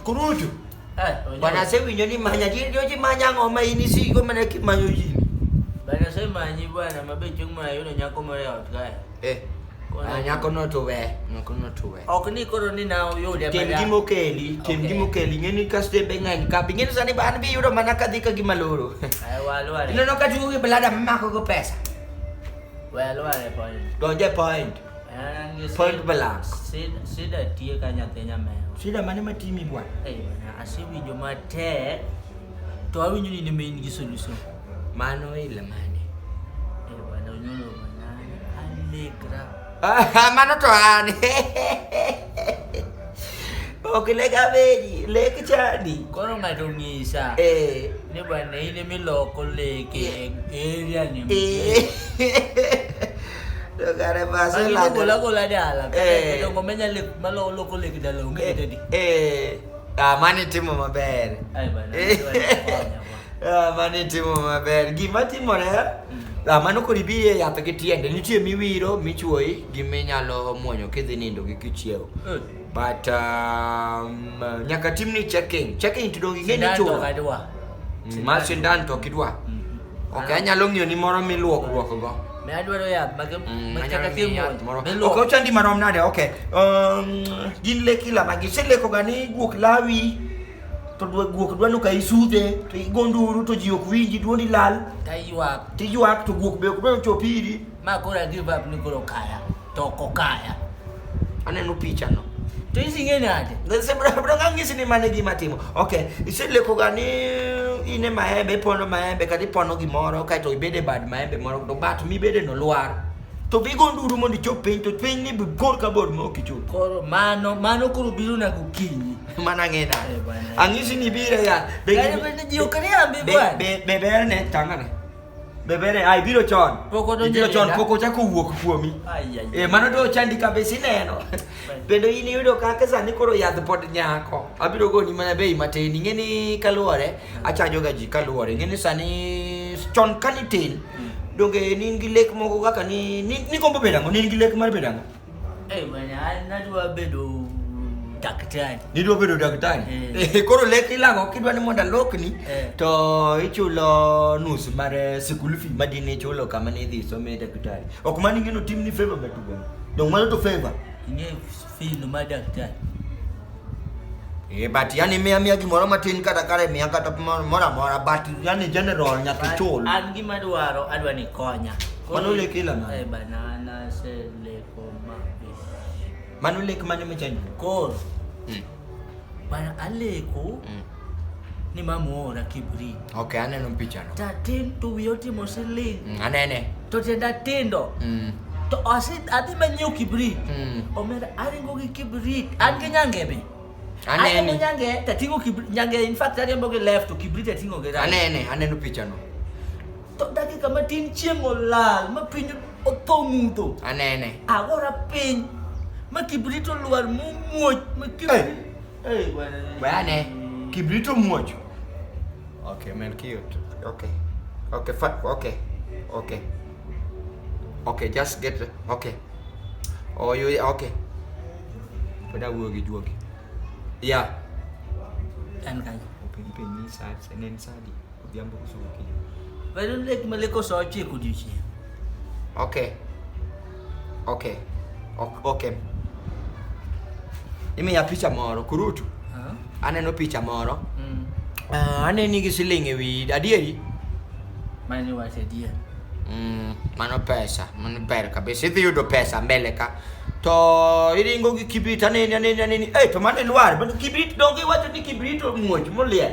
Kurutu. Eh, bwana sema nyoni manya jini joji manya ngoma ini si kwa maana kimanyo jini. Bwana sema nyi bwana mabecho mwa yule nyako mwa leo tukae. Eh. Ah, nyako no to we, nyako no to we. Ok ni koro ni na uyo le bada. Tim gimo keli, tim gimo keli ngeni kaste bengan ka pingin sani ban bi yuro mana kadhi ka gimaloro. Ai walo wale. Ino no ka jugi belada mako ko pesa. Walo wale point. Donje point. And you Point blank. Sida, sida tie ka nyathi nyameo. Sida mane matimi bwana? Eh, bwana, asewinjo matek to awinjo ni nime in gi solution. Mano ile mane? Eh, bwana, unyolo bwana. Alegra. Ah, mano to an. Ok le gabeji, le kichadi. Koro ng'ato ng'isa. Eh. Ni bwana in miloko leke area ni. Eh. Dogare base la. Ko la ko la dala. Eh. Dongo menya le malo loko leke dala onge eh, tedi. Eh. Ah, mani timo maber. Ai bwana. Eh. Ah, mano itimo maber gima timore ah, mano kod ibiri e yath gi tiende nitie miwiro michuoyi gi minyalo muonyo kidhi nindo gi kichiewo Eh. but um, nyaka timni checking checking to donge ing'e ni Sindan to chulo kadwa. ma sindan to ok idwa ok anyalo ng'iyo ni moro miluok luok go Ne adwaro yath mag Mm, mag anyalo chakatim ng'iyo yath moro. miluoko. Ok, ochandi marom nade ok Um, gin le kila magi iseleko ga ni guok lawi to guok dwa ni ka isudhe to igo nduru to ji ok winji dwondi lal taywak tiywak to guok be ok dwa ni ochop iri ma koro agive up ni koro kaya to ok okaya aneno pichano to ising'e nade ng'isi ni mane gima timo ok iselekoga ni in e maembe ipono maembe kata ipono gimoro kaeto ibede bad maembe moro to bat mibede no lwar to bigo nduru mondo ichop piny to piny ni bi bor ka bor maok ichop koro mano mano koro biro na gokinyi mana ng'ina Eh, bwana. ang'isi ni biro ya be- Yaani bende ji ok riambi be- bwana. be- be berne tangane be berne ai biro chon Pok odonjo biro e chon denda. pok ochako wuok kuomi Ai, ai, Eh, mano do chandi kabisa ineno bende in iyudo kaka sani koro yadh pod nyako abiro goni mana bei matin ing'e ni kaluwore Achajo ga ji kaluwore. Ing'e ni sani chon ka nitin, donge ne in gi lek moko kaka ni ni- nigombo bedo ang'o? Ne in gi lek mar bedo ang'o? Eh, bwana, an nadwa bedo daktari. Nidwa bedo daktari. Eh. Eh, Koro lek ilang'o kidwa ni mondo alokni Eh. to ichulo nus mar eh, school fee ma dine ichulo kama ne idhi some daktari. Ok mano ing'e ni otimni favor matugo. Donge mano to favor. Ing'e Fil madaktar. Eh, but yani mia mia gimoro matin kata kare mia kata moro moro amora but yani general nyaka ichul. An gima dwaro adwa ni konya. Mano lek ila na. Eh, banana se leko ma. Mano lek mane machani? Kor. Mm. Bana aleko. Mm. ni mamuora kibri okay aneno pichano tatin tuwi otimo siling mm, anene to tienda tindo mm. to adhi manyiew kibrit mm. omera aringo gi kibrit an gi nyangebe anene nyange tatingo kibrit nyange in fact ariembo gi left to kibrit atingo gi right anene aneno pichano to dakika matin chieng' olal ma piny otho mudho anene agora piny ma kibrit olwar mumuoch ma kibrit Hey, bwana. Bwana, kibrito mmoja. Okay, man cute. Okay. Okay, fat. Okay. Okay. Okay, just get the, okay. Oh, you okay. Pada gua gi jual. Yeah. Dan kan. Open pin ni saat Senin tadi. Odhiambo koso gokinyi? Bado lek maleko saa ochiko odiochieng'. Okay. Okay. Ok- Okay. Imiya picha moro, kurutu. Ah, Aneno picha moro. mm. Ah, aneni gi siling' e wiyi, adieri? Mani wacho adier. Mm, mano pesa, mano ber kabisa. Idhi yudo pesa mbele ka. To iringo gi kibrit aneni aneni aneni. Eh, to mano ilwar, mano kibrit donge iwacho ni kibrit omuoch moliel.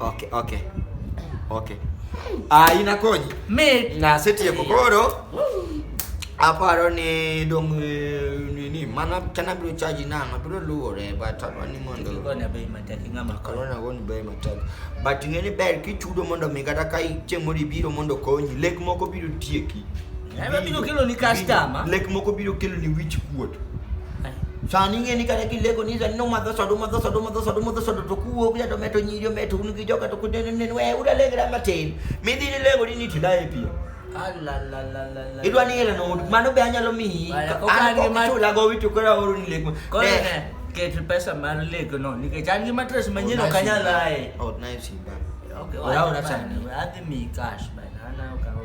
Okay, okay. Okay. Ah, inakonyi. Me. Na seti ya kokoro. Aparo ni dong eh, ni ni mana kana bro charge na na bro luwo re but aparo ni mondo. Ko na bei mataki ngama ko. Ko na go ni bei mataki. But ngene ber ki chudo mondo mi kata kai chemori biro mondo konyi. Lek moko biro tieki. Ema biro kelo ni customer. Lek moko biro kelo ni wich kuot. Sani ing'e ni kata kileko ni sani nomadho soda umadho soda umadho soda umadho soda to kuwuok ja to meto nyiri ometo un gi joga to kunenenen we uda lengra matin midhi ni lengo ni ni tila e pia. Idwa ni ila no mano be anyalo miyi. An ko chula go witu kora oru ni lek. Ne. Ket pesa mar lek no nikech an gi mattress manyien ok anyal aye. Ot na e simba. Okay, ora ora sani. Adhi mi cash bana. Ana okawo.